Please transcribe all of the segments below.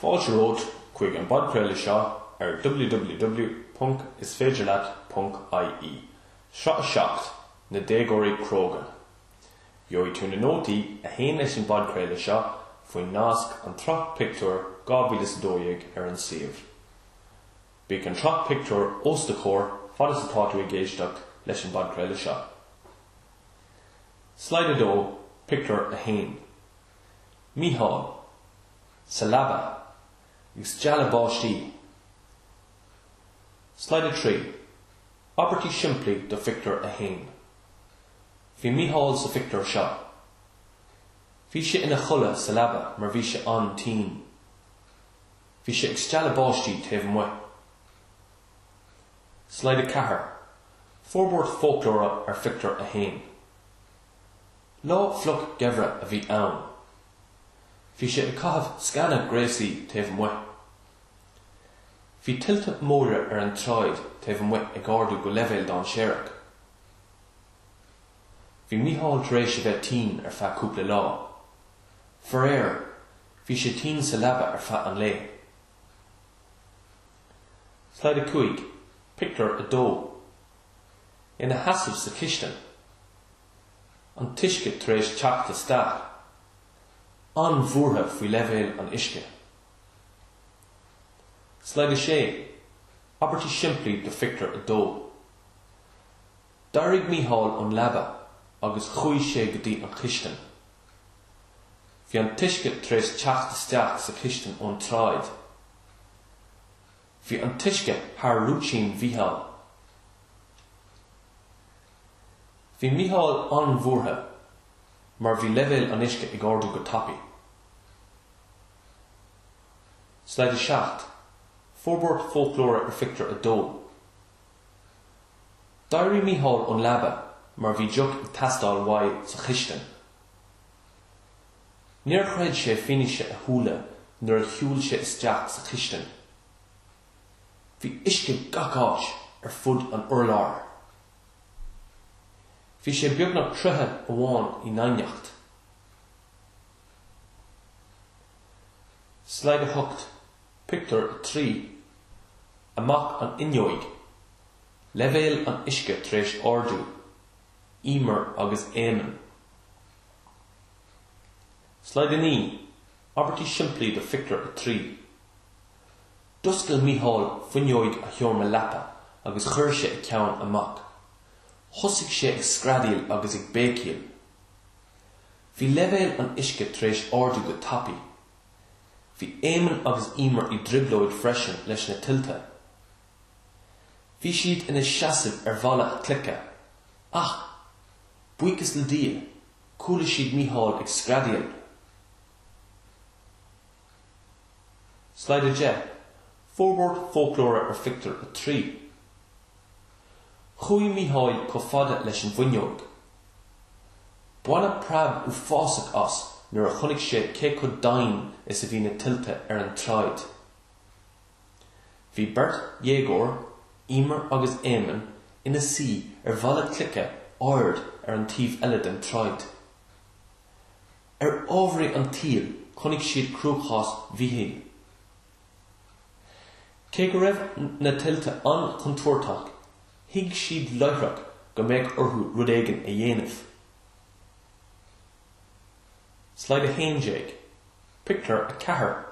Fáilte romhat chuig an bpodchraoladh seo ar www.isféidirleat.ie, Sraith 7, Na Déagóirí Cróga. Gheobhaidh tú na nótaí a théann leis an bpodchraoladh seo faoin nasc An tSraith Pictiúr 2012 ar an suíomh. Bíodh an tsraith pictiúr os do chomhair fad is atá tú ag éisteacht leis an bpodchraoladh seo. Slide 2, Pictiúr 1. Mícheál sa leaba ag stealladh báistí. Slide 3, Abairtí simplí do Phictiúr 1 Bhí Mícheál sa phictiúr seo. Bhí sé ina chodladh sa leaba mar bhí sé an-tinn. Bhí sé ag stealladh báistí taobh amuigh. Slide 4, Forbairt foclóra ar Phictiúr 1. Lá fliuch geimhridh a bhí ann. Bhí sé ag caitheamh sceana gréasaí taobh amuigh. Bhí tuilte móire ar an tsráid taobh amuigh ag ardú go leibhéal dainséarach. Bhí Mícheál tar éis a bheith tinn ar feadh cúpla lá. Faraor, bhí sé tinn sa leaba ar feadh an lae. Slide 5, Pictiúr 2. ina sheasamh sa chistin, an t-uisce tar éis teacht isteach, an-bhuartha faoi leibhéal an uisce. Slide 6, Abairtí simplí do Phictiúr 2 D'éirigh Mícheál ón leaba agus chuaigh sé go dtí an chistin. Bhí an t-uisce tar éis teacht isteach sa chistin ón tsráid. Bhí an t-uisce thar rúitín Mhícheáil. Bhí Mícheál an-bhuartha mar bhí leibhéal an uisce ag ardú go tapaidh. Slide 7, Forbairt Foclóra ar Phictiúr 2 D'éirigh Mícheál ón leaba mar bhí deoch ag teastáil uaidh sa chistin. Níor chreid sé fianaise a shúile nuair a shiúil sé isteach sa chistin. Bhí uisce gach áit ar fud an urláir. Bhí sé beagnach troigh amháin i ndoimhneacht. Slide 8, Pictiúr 3 Amach an fhuinneoig, leibhéal an uisce tar éis ardú, Eimear agus Éamonn. Slide 9, Abairtí simplí do Phictiúr 3 D'oscail Mícheál fuinneog a sheomra leapa agus chuir sé a cheann amach. Thosaigh sé ag screadaíl agus ag béicíl. Bhí leibhéal an uisce tar éis ardú go tapaidh. Bhí Éamonn agus Emer i dtrioblóid freisin leis na tuilte. Bhí siad ina seasamh ar bhalla cloiche. Ach, buíochas le Dia, Chuala siad Micheál ag screadaíl. Slide 10, Forbairt fóclóra ar Phictiúr 3 Chuaigh Micheál chomh fada leis an bhfuinneoig. Baineadh preab uafásach as nuair a chonaic sé cé chomh doimhin is a bhí na tuilte ar an tsráid. Bhí beirt dhéagóir, Emer agus Éamonn, ina suí ar bhalla cloiche ard ar an taobh eile den tsráid. Ar ámharaí an tsaoil chonaic siad cruachás Mhichíl. Cé go raibh na tuilte an-chontúirteach, thuig siad láithreach go mbeadh orthu rud éigin a dhéanamh. Slide 11, Pictiúr 4.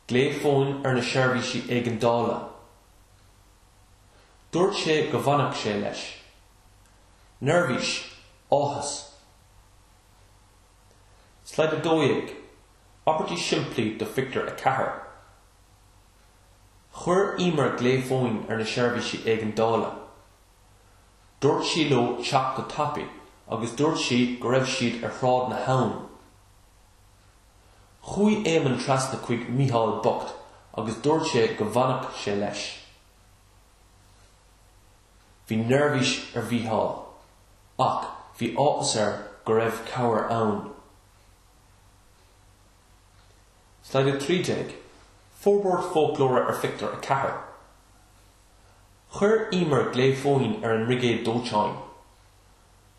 Glao fóin ar na seirbhísí éigeandála. Dúirt sé go bhfanfadh sé leis. Neirbhís, áthas. Slide 12, Abairtí simplí do phictiúr a ceathair Chuir Emer glao fóin ar na seirbhísí éigeandála. Dúirt sí leo teacht go tapaidh agus dúirt sí go raibh siad ar Shráid na hAbhann. Chuaigh Éamonn trasna chuig Micheál bocht agus dúirt sé go bhfanfadh sé leis. Bhí neirbhís ar Mhicheál ach bhí áthas air go raibh cabhair ann. Slide 13, Forbairt Fóclóra ar Phictiúr 4 Chuir Emer glao fóin ar an mBrigéad Dóiteáin.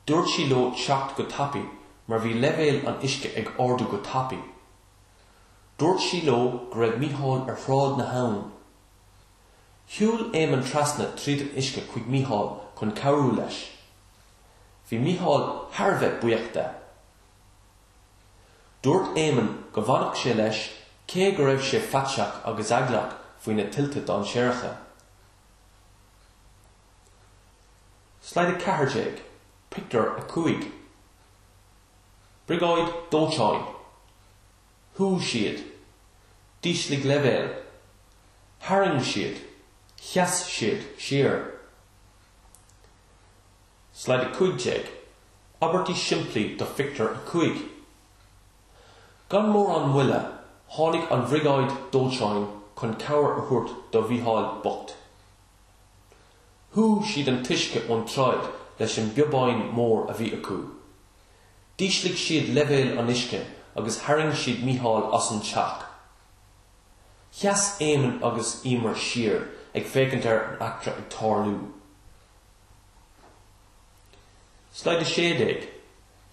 Dúirt sí leo teacht go tapaidh mar bhí leibhéal an uisce ag ardú go tapaidh. Dúirt sí leo go raibh Micheál ar Shráid na hAbhann. Shiúil Éamonn trasna tríd an uisce chuig Micheál chun cabhrú leis. Bhí Micheál thar a bheith buíoch de. Dúirt Éamonn go bhfanfadh sé leis cé go raibh sé faiteach agus eaglach faoi na tuilte dainséaracha. Slide 14, Pictiúr 5 Briogáid dóiteáin Shúigh siad D'ísligh leibhéal Tharraing siad Sheas siad siar Slide 15, Abairtí simplí do Phictiúr 5 Gan mórán moille tháinig an bhriogáid dóiteáin chun cabhair a thabhairt do Mhícheál bocht. Shúigh siad an t-uisce ón tsráid leis an bpíobán mór a bhí acu. D'ísligh siad leibhéal an uisce agus tharraing siad Mícheál as an teach. Sheas Éamonn agus Emer siar ag féachaint ar an eachtra ag tarlú. Slide 16,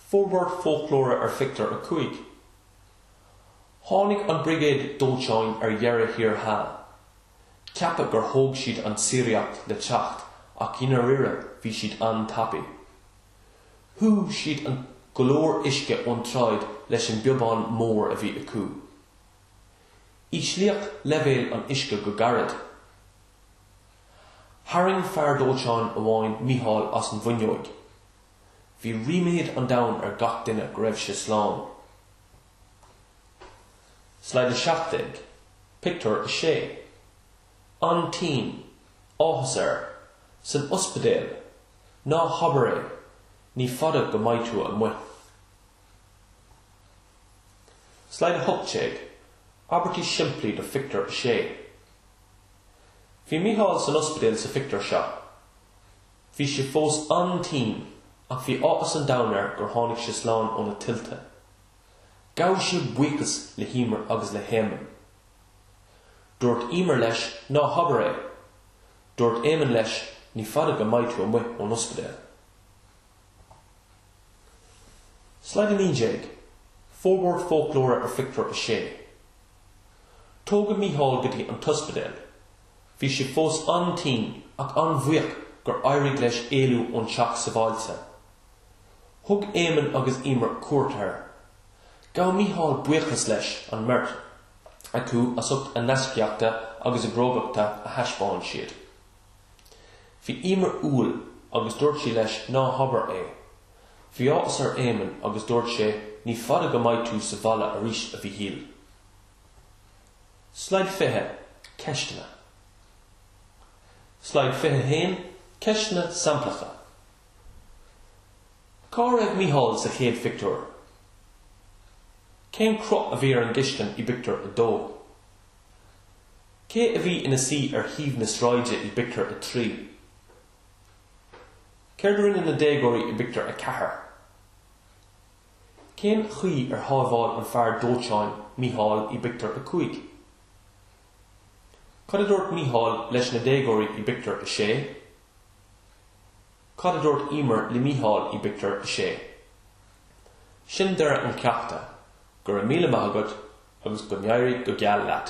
Forbairt foclóra ar Phictiúr 5 Tháinig an bhriogáid dóiteáin ar deireadh thiar thall. Ceapadh gur thóg siad an tsíoraíocht le teacht ach i ndairíre bhí siad an-tapaidh. Shúigh siad go leor uisce ón tsráid leis an bpíobán mór a bhí acu. Íslíodh leibhéal an uisce go gairid. Tharraing fear dóiteáin amháin Mícheál as an bhfuinneoig. Bhí ríméad an domhain ar gach duine go raibh sé slán. Slide 17, Pictiúr 6 An-tinn, áthas air, san ospidéal, Ná habair é, ní fada go mbeidh tú amuigh. Slide 18, Abairtí simplí do Phictiúr 6 Bhí Micheál san ospidéal sa phictiúr seo. Bhí sé fós an-tinn ach bhí áthas an domhain air gur tháinig sé slán ó na tuilte. Ghabh sé buíochas le hEimear agus le hÉamonn. Dúirt Eimear leis ná habair é. Dúirt Éamonn leis ní fada go mbeidh tú amuigh ón ospidéal. Slide 19, Forbairt foclóra ar Phictiúr 6. Tógadh Mícheál go dtí an t-ospidéal Bhí sé fós an-tinn ach an-bhuíoch gur éirigh leis éalú ón teach sabháilte. Thug Éamonn agus Emer cuairt air. Ghabh Micheál buíochas leis an mbeirt acu as ucht na gaiscíochta agus na crógachta a thaispeáin siad. Bhí Emer umhal agus dúirt sí leis Ná habair é. Bhí áthas ar Éamonn agus dúirt sé Ní fada go mbeidh tú sa bhaile arís, a Mhichíl. Slide 20, Ceisteanna. Slide 21, Ceisteanna samplacha. Cá raibh Micheál sa chéad phictiúr? Cén cruth a bhí ar an gcistin i bpictiúr a dó? Cé a bhí ina suí ar thaobh na sráide i bpictiúr a trí? Céard a rinne na déagóirí i bpictiúr a ceathair? Cén chaoi ar shábháil an fear dóiteáin Mícheál i bpictiúr a cúig? Cad a dúirt Mícheál leis na déagóirí i bpictiúr a sé? Cad a dúirt Emer le Mícheál i bpictiúr a sé? Sin deireadh an cheachta, go raibh míle maith agat agus go n-éirí go geal leat!